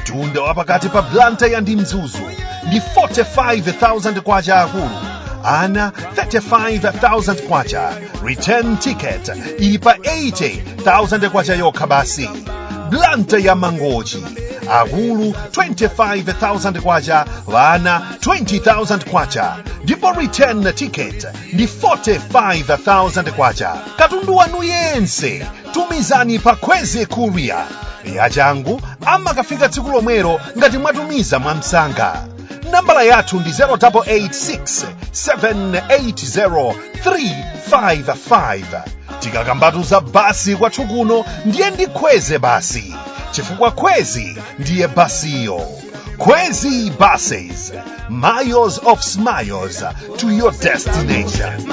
mtunda wa pakati pa blantyre ndi mzuzu ndi 45,000 kwacha akulu ana 35,000 kwacha return ticket ili pa 80,000 kwacha yokha basi blantyre ya mangochi akulu 25,000 kwacha ana 20,000 kwacha ndipo return ticket ndi 45,000 kwacha katundu wanu yense tumizani pa kwezy courier yachangu amakafika tsiku lomwelo ngati mwatumiza mwamsanga nambala yathu ndi 0886 780 355 tikakambatu za basi kwathu kuno ndiye ndi kwezy basi chifukwa kwezy ndiye basiyo kwezy buses miles of smiles to your destination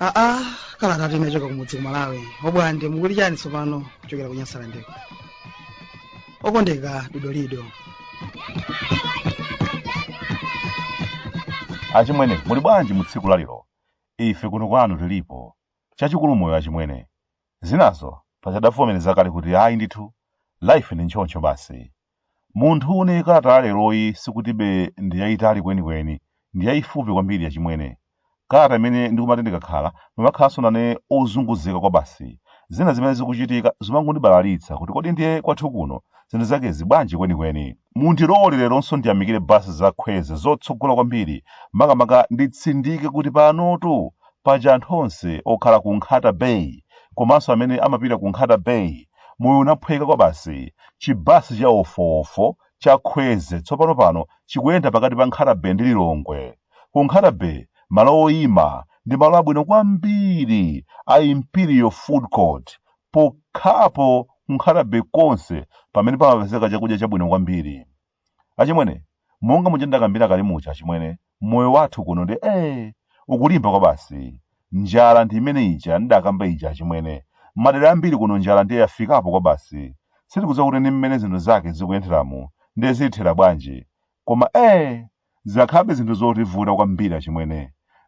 aa kalatatu inachoka kumudzi ku malawi obwande mukuti chani tsopano kuchokera ku nyasalandeko okondeka dodolido achimwene muli bwanji mu tsiku lalero ife kuno kwanu tilipo Chachikulu moyo achimwene. Zinazo paja adavomereza kale kuti ayi ndithu life ndi ntchontcho basi. Munthune kalata ya leroyi sikutibe ndi yaitali kwenikweni, ndi yaifupi kwambiri achimwene. Kalata imene ndikumati ndikakhala mmakhalanso nane ozunguzika kwabasi. Zina zimene zikuchitika zimangondibalalitsa kuti kodi ndiye kwathu kuno zinthu zakezi bwanji kwenikweni. Mundilole leronso ndiyamikire basi za Kwezy zotsogola kwambiri makamaka nditsindike kuti panotu paja anthu onse okhala ku Nkhata Bay komanso amene amapita ku Nkhata Bay moyo unaphweka kwabasi. Chibasi cha wofoofo cha Kwezy tsopano pano chikuyenda pakati pa Nkhata Bay ndi Lilongwe. Ku Nkhata Bay malo oima ndi malo abwino kwambiri a Imperial Food Court pokhapo ku nkhata bay konse pamene pamapezeka chakudya chabwino kwambiri achimwene monga muja ndakambira kale muja achimwene moyo wathu kuno ndi ee ukulimba kwa basi njala ndi imene ija ndidakamba ija achimwene madera ambiri kuno njala ndiye yafikapo kwa basi sitikudziwa kuti ndi mmene zinthu zake zikuyenderamu ndiye zithera bwanji koma ee Zikhalabe zinthu zotivuta kwambiri achimwene.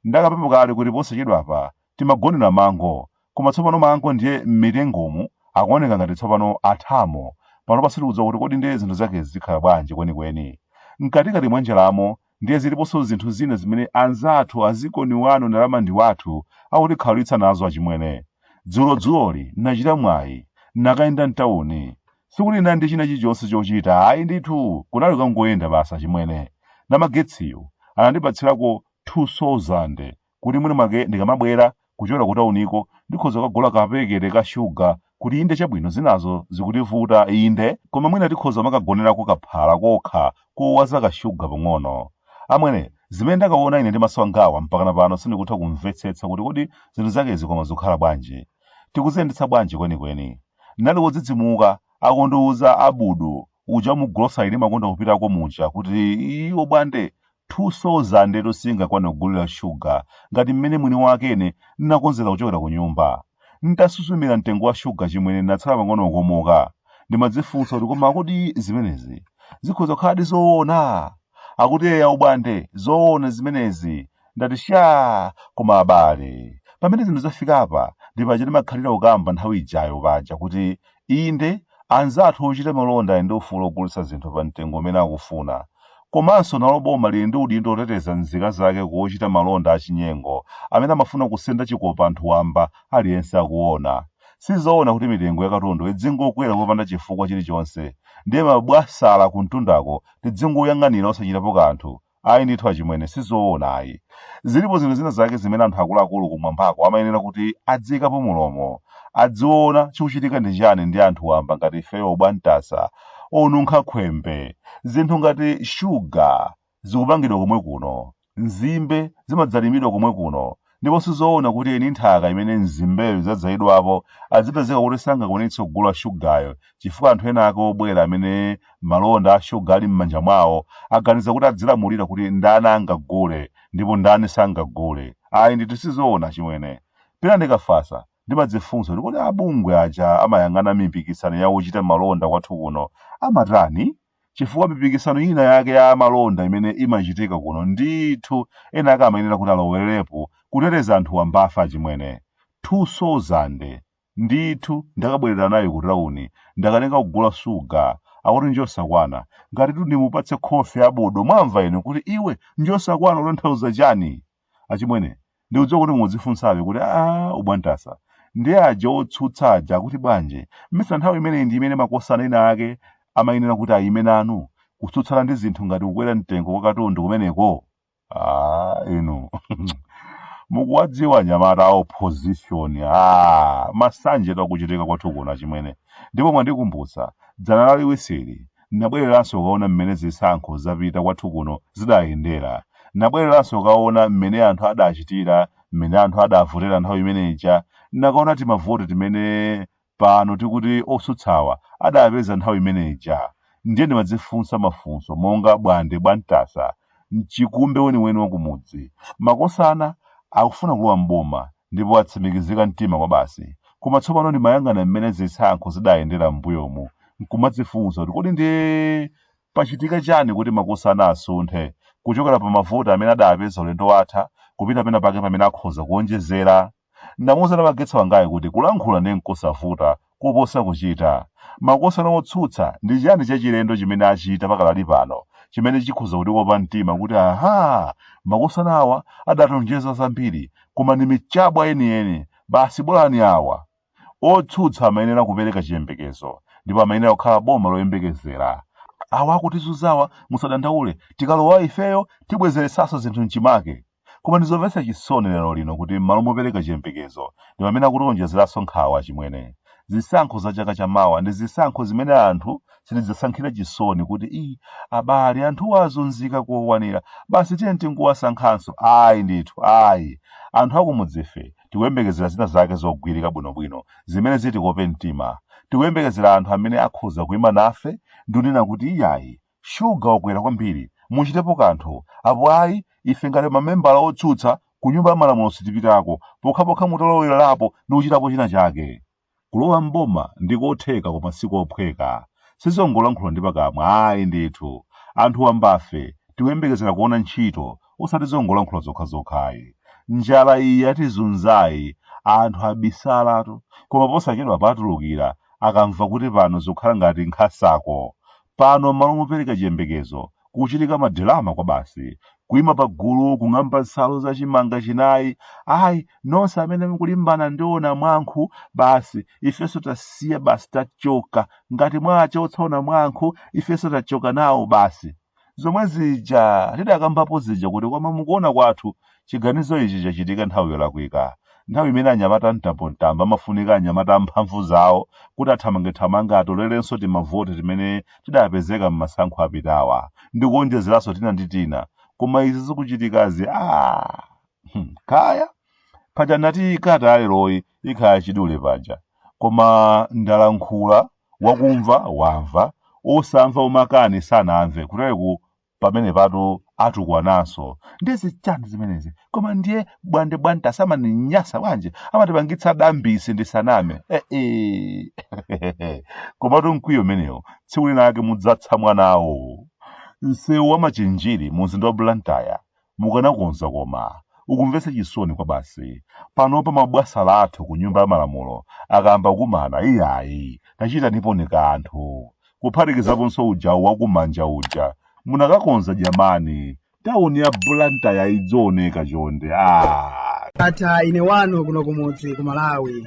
Ndakambapo kale kuti posachedwapa timagonera mango, koma tsopano mango ndiye m'mitengomu akuoneka ngati tsopano athamo. Panopa sitikudziwa kuti kodi ndiye zinthu zakezi zikhala bwanji kwenikweni. Mkatikati mwa njalamo ndiye ziliponso zinthu zina zimene anzathu a dziko ndi wanu ndalama ndi wathu akutikhaulitsa nazo achimwene. Dzulodzuloli nachita mwayi nakayenda m'tauni. Sikuti ndinali ndi china chilichonse chochita ayi ndithu, kunali kukangoyenda basi achimwene. Namagetsiyo anandipatsirako 2,000 kuti mwinamwake ndikamabwera kuchokera kutauniko ndikhoza kukagula kapekete ka shuga kuti inde chabwino zinazo zikutivuta inde koma mwina tikhoza kumakagonerako kaphala kokha kowaza kashuga pang'ono. Amwene, zimene ndakaona ine ndi maso angawa mpakana pano sindikutha kumvetsetsa kuti kodi zinthu zakezi koma zikhala bwanji. tikuziyendetsa bwanji kwenikweni? Ndinali wodzidzimuka akundiuza Abudu uja mu grocery ndimakonda kupitako muja kuti obwande 2000 etu singakwane kugulira shuga ngati mmene mwini wake ine ndinakonzera kuchokera ku nyumba. Ntasuzumira mtengo wa shuga chimwene ndinatsala pang'ono kukomoka. Ndimadzifunsa kuti koma kodi zimenezi zikhoza kukhaladi zoona? Akuti eya obwande, zoona zimenezi, ndati shaa koma abale pamene zinthu zafikapa ndi paja ndimakhalira kukamba nthawi ijayo paja kuti inde anzathu ochita malonda ali ndi ufulu wogulitsa zinthu pa mtengo umene akufuna komanso nalo boma lili ndi udindo woteteza nzika zake ku ochita malonda achinyengo amene amafuna kusenda chikopa anthu wamba aliyense akuona sizoona kuti mitengo ya katundu idzingokwera kopanda chifukwa chilichonse ndiye mabwasala kumtundako tidzingoyang'anira osachitapo kanthu Ayi ndithu achimwene, si zoona ayi. Zilipo zinthu zina zake zimene anthu akuluakulu kumwambako amayenera kuti adziikapo mulomo, adziona chikuchitika ndi chiyani ndi anthu wamba ngati ifeyo obwantasa, onunkha khwembe. Zinthu ngati shuga zikupangidwa komwe kuno, nzimbe zimadzalidwa komwe kuno, ndipo sizoona kuti eni nthaka imene nzimbezo zadzalidwapo adzipezeka kuti sangakwanitse kugula shugayo chifukwa anthu ena ake obwera amene malonda a shuga ali m'manja mwawo aganiza kuti adzilamulira kuti ndani angagule ndipo ndani sangagule. Ayi ndithu sizoona chimwene. Pena ndikafasa, ndimadzifunsa kuti kodi abungwe aja amayang'ana mipikisano ya ochita malonda kwathu kuno amatani? chifukwa mipikisano ina yake ya malonda imene imachitika kuno ndithu ena ake amayenera kuti alowererepo kuteteza anthu wambafa achimwene 2000 ndithu ndakabwerera nayo ku tauni ndakanika kugula shuga akuti njosakwana ngatitu ndimupatse khofi abudo mwamva inu kuti iwe njosakwana utanthauza chani achimwene ndikudziwa kuti mudzifunsabe kuti aa obwantasa ndi aja otsutsa aja akuti bwanji mmesa nthawi imeneyi ndi imene makosana ena ake amayenera kuti ayime nanu kutsutsana ndi zinthu ngati kukwera mtengo kwa katundu kumeneko aa inu mukuwadziwa anyamata a opposition aa masanjetu akuchitika kwathu kuno achimwene ndipo mwandikumbutsa dzana Laliwisili Nabwereranso kukaona mmene zisankho zapita kwathu kuno zidayendera. Nabwereranso kukaona mmene anthu adachitira, mmene anthu adavotera nthawi imene ija. Nakaona timavoti timene pano tikuti otsutsawa adapeza nthawi imene ija. Ndiye ndimadzifunsa mafunso monga Bwande Bwantasa mchikumbe weniweni wa kumudzi. Makosana akufuna kulowa m'boma ndipo atsimikizika mtima kwabasi. Koma tsopano ndimayang'ana mmene zisankho zidayendera m'mbuyomu n'kumadzifunsa kuti kodi ndiye pachitika chani kuti makosana asunthe kuchokera pa mavoti amene adapeza ulendo watha kupita penapake pamene akhoza kuonjezera? Ndamuuza namagetsi wangayu kuti kulankhula ndiye n'kosavuta kuposa kuchita. Makosana otsutsa, ndi chiyani chachilendo chimene achita pakadali pano chimene chikhoza kutikopa mtima kuti aha! Makosana awa adationjeza zambiri, koma ndi michabwa yeniyeni basi bolani awa! Otsutsa amayenera kupereka chiyembekezo ndipo amayenera kukhala boma loyembekezera. Awa akutizunzawa musadandaule, tikalowa ifeyo tibwezeretsanso zinthu m'chimake. Koma ndi zomvetsa chisoni lero lino kuti m'malo mopereka chiyembekezo, ndi pamene akutionjezeranso nkhawa achimwene. Zisankho za chaka cha mawa ndi zisankho zimene anthu sitidzasankhira chisoni kuti ii abale anthuwa azunzika kokwanira basi tiyeni tingowasankhanso ayi ndithu ayi. Anthu akumudzife tikuyembekezera zina zake zogwirika bwinobwino zimene zitikope mtima. Tikuyembekezera anthu amene akhoza kuima nafe ndi kunena kuti iyayi Shuga wakwera kwambiri, muchitepo kanthu, apo ayi ife ngati mamembala otsutsa ku nyumba ya malamulo sitipitako pokhapokha mutalowererapo ndi kuchitapo china chake. Kulowa m'boma ndi kotheka koma si kophweka. Sizongolankhula ndi pakamwa ayi ndithu. Anthu wambafe tikuyembekezera kuona ntchito osati zongolankhula zokhazokhayi. Njala iyi yatizunzayi anthu abisalatu koma posachedwapa atulukira akamva kuti pano zikukhala ngati nkhasako Pano m'malo mopereka chiyembekezo, kukuchitika madirama kwabasi. Kuima pagulu, kung'amba nsalu za chimanga chinayi, Ayi, nonse amene mukulimbana ndi o Namwankhu, basi, ifenso tasiya basi, tachoka. Ngati mwachotsa o Namwankhu, ifenso tachoka nawo basi. Zomwe zija tidakambapo zija kuti koma mukuona kwathu, Chiganizo ichi chachitika nthawi yolakwika, nthawi imene anyamata a mtambomtambo amafunika anyamata amphamvu zawo kuti athamangethamange atolerenso timavoti timene tidapezeka m'masankho apitawa ndi kuonjezeranso tina ndi tina koma izi zikuchitikazi aah hmm, kaya paja ndinati ikata yaleroyi ikhala chidule paja koma ndalankhula wakumva wamva osamva omakani sanamve kutereku pamene patu atukwananso ndi zichani zimenezi koma ndiye bwande bwande asamaninyasa bwanji amatipangitsa dambisi ndisaname eh, eh. komatu mkwiyo umenewo tsiku linalake mudzatsa mwanawo msewu wa machinjiri mu mzinda wa blantyre Mukanakonza koma. Ukumvetsa chisoni kwabasi. Panopa mabwasala athu ku nyumba ya malamulo akayamba kukumana iyayi tachitaniponi kanthu. Kuphatikizaponso uja wa ku manja uja. Munakakonza jamani. Town ya Blantyre-yi idzioneka chonde. Aaa. Ndatha ine wanu kuno kumudzi ku Malawi.